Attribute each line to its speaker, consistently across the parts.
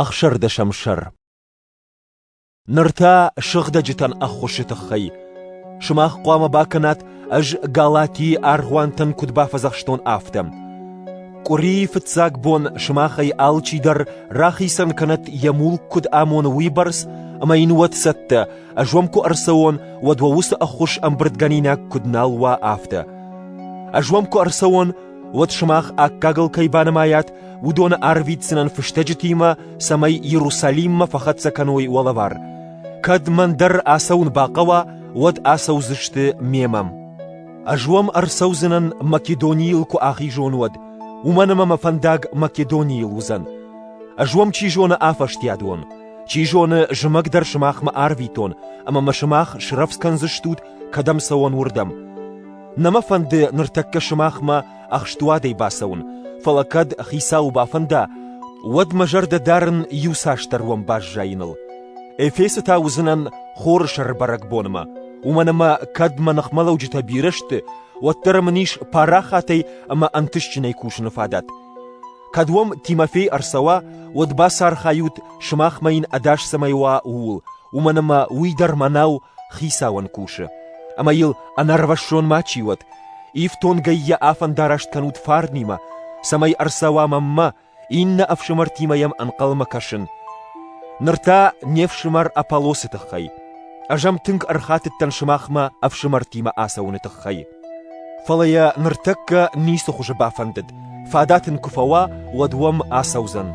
Speaker 1: Ӕхсӕрдӕсӕм сӕр Ныр та сыгъдӕджытӕн ӕххуысы тыххӕй. Сымах хъуамӕ бакӕнат, ӕз Галатийы аргъуантӕн куыд бафӕдзӕхстон, афтӕ. Къуырийы фыццаг бон сымахӕй алчи дӕр рахицӕн кӕнӕт йӕ мулк куыд амоны уыйбӕрц, ӕмӕ йын уӕд цӕттӕ, ӕз уӕм куы ӕрцӕуон, уӕд уӕ уыцы ӕххуыс ӕмбырдгӕнинаг куыд нал уа, афтӕ. Ӕз уӕм куы ӕрцӕуон, уӕд сымах аккагыл кӕй банымайат, уыдоны арвитдзынӕн фыстӕджытимӕ, цӕмӕй Иерусалиммӕ фӕхӕццӕ кӕной уӕлӕвар. Кӕд мӕн дӕр ацӕуын бахъӕуа, уӕд ацӕудзысты мемӕ. Ӕз уӕм ӕрцӕудзынӕн Македонийыл куы ахизон, уӕд, уымӕн ӕмӕ мӕ фӕндаг Македонийыл уыдзӕн. Ӕз уӕм чи зоны афӕстиат уон, чи зоны, зымӕг дӕр сымахмӕ арвитон, ӕмӕ мӕ сымах срӕвдз кӕндзыстут, кӕдӕм цӕуон, уырдӕм. Нӕ мӕ фӕнды ныртӕккӕ сымахмӕ ӕхстуадӕй бацӕуын, фӕлӕ кӕд хицауы бафӕнда, уӕд мӕ зӕрдӕ дарын иуцасдӕр уӕм баззайыныл. Эфесы та уыдзынӕн хоры сӕрбӕрӕгбонмӕ, уымӕн ӕмӕ кӕд мӕ ныхмӕлӕуджытӕ бирӕ сты, уӕддӕр мын ис парахатӕй ӕмӕ ӕнтыстджынӕй кусыны фадат. Кӕд уӕм Тимофей ӕрцӕуа, уӕд бацархайут, сымахмӕ йын ӕдас цӕмӕй уа, ууыл, уымӕн ӕмӕ уый дӕр мӕнау хицауӕн кусы. Ӕмӕ йыл ӕнӕрвӕссон ма чи уӕд! Ифтонгӕй йӕ афӕндараст кӕнут фарнимӕ, цӕмӕй ӕрцӕуа мӕнмӕ, иннӕ ӕфсымӕртимӕ йӕм ӕнхъӕлмӕ кӕсын. Ныр та не фсымӕр Аполлосы тыххӕй. Ӕз ӕм тынг ӕрхатыдтӕн сымахмӕ ӕфсымӕртимӕ ацӕуыны тыххӕй. Фӕлӕ йӕ ныртӕккӕ ницы хуызы бафӕндыд, фадат ын куы фӕуа, уӕд уӕм ацӕудзӕн.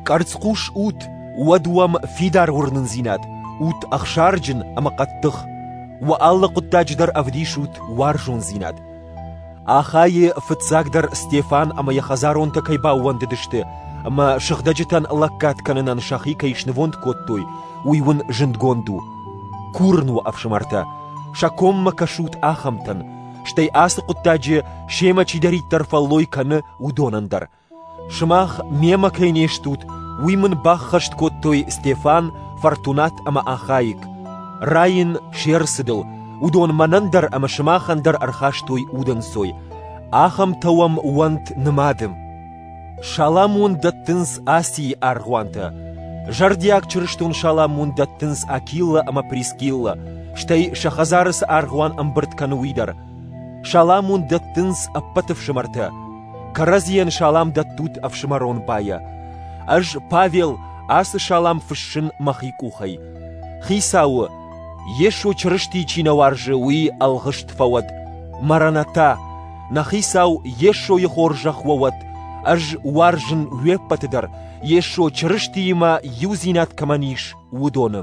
Speaker 1: Къӕрцхъус ут, уӕд уӕм фидар уырнындзинад, ут ӕхсарджын ӕмӕ хъӕддых, уӕ алы хъуыддаджы дӕр ӕвдисут уарзондзинад. Ахайы фыццагдӕр Стефан ӕмӕ йӕ хӕдзаронтӕ кӕй баууӕндыдысты ӕмӕ сыгъдӕджытӕн лӕггад кӕнынӕн сӕхи кӕй снывонд кодтой, уый уын зындгонд у. Курын уӕ, ӕфсымӕртӕ, Сӕ коммӕ кӕсут ахӕмтӕн, стӕй ацы хъуыддаджы семӕ чидӕриддӕр фӕллой кӕны, уыдонӕн дӕр. Сымах мемӕ кӕй не стут, уый мын баххӕст кодтой Стефан, Фортунат ӕмӕ Ахаик. Райын се рцыдыл, уыдон мӕнӕн дӕр ӕмӕ сымахӕн дӕр ӕрхастой удӕнцой. Ахӕмтӕ уӕм уӕнт нымады. Саламон дӕттынц Асийы аргъуантӕ. Зӕрдиаг чырыстон саламон дӕттынц Акилла ӕмӕ Прискилла, стӕй сӕ хӕдзары цы аргъуан ӕмбырд кӕны, уый дӕр. Саламон дӕттынц ӕппӕт ӕфсымӕртӕ. Кӕрӕдзийӕн салам дӕттут ӕфсымӕрон байӕ. Ӕз, Павел, ацы салам фыссын мӕхи къухӕй. Хицауы, Йесо Чырысти чи нӕ уарзы, уый ӕлгъыст фӕуӕд. Маранатӕ, Нӕ хицау Йесойы хорзӕх уӕ уӕд! Ӕз уарзын уе ппӕты дӕр, Йесо Чырыстиимӕ иудзинад кӕмӕн ис, уыдоны.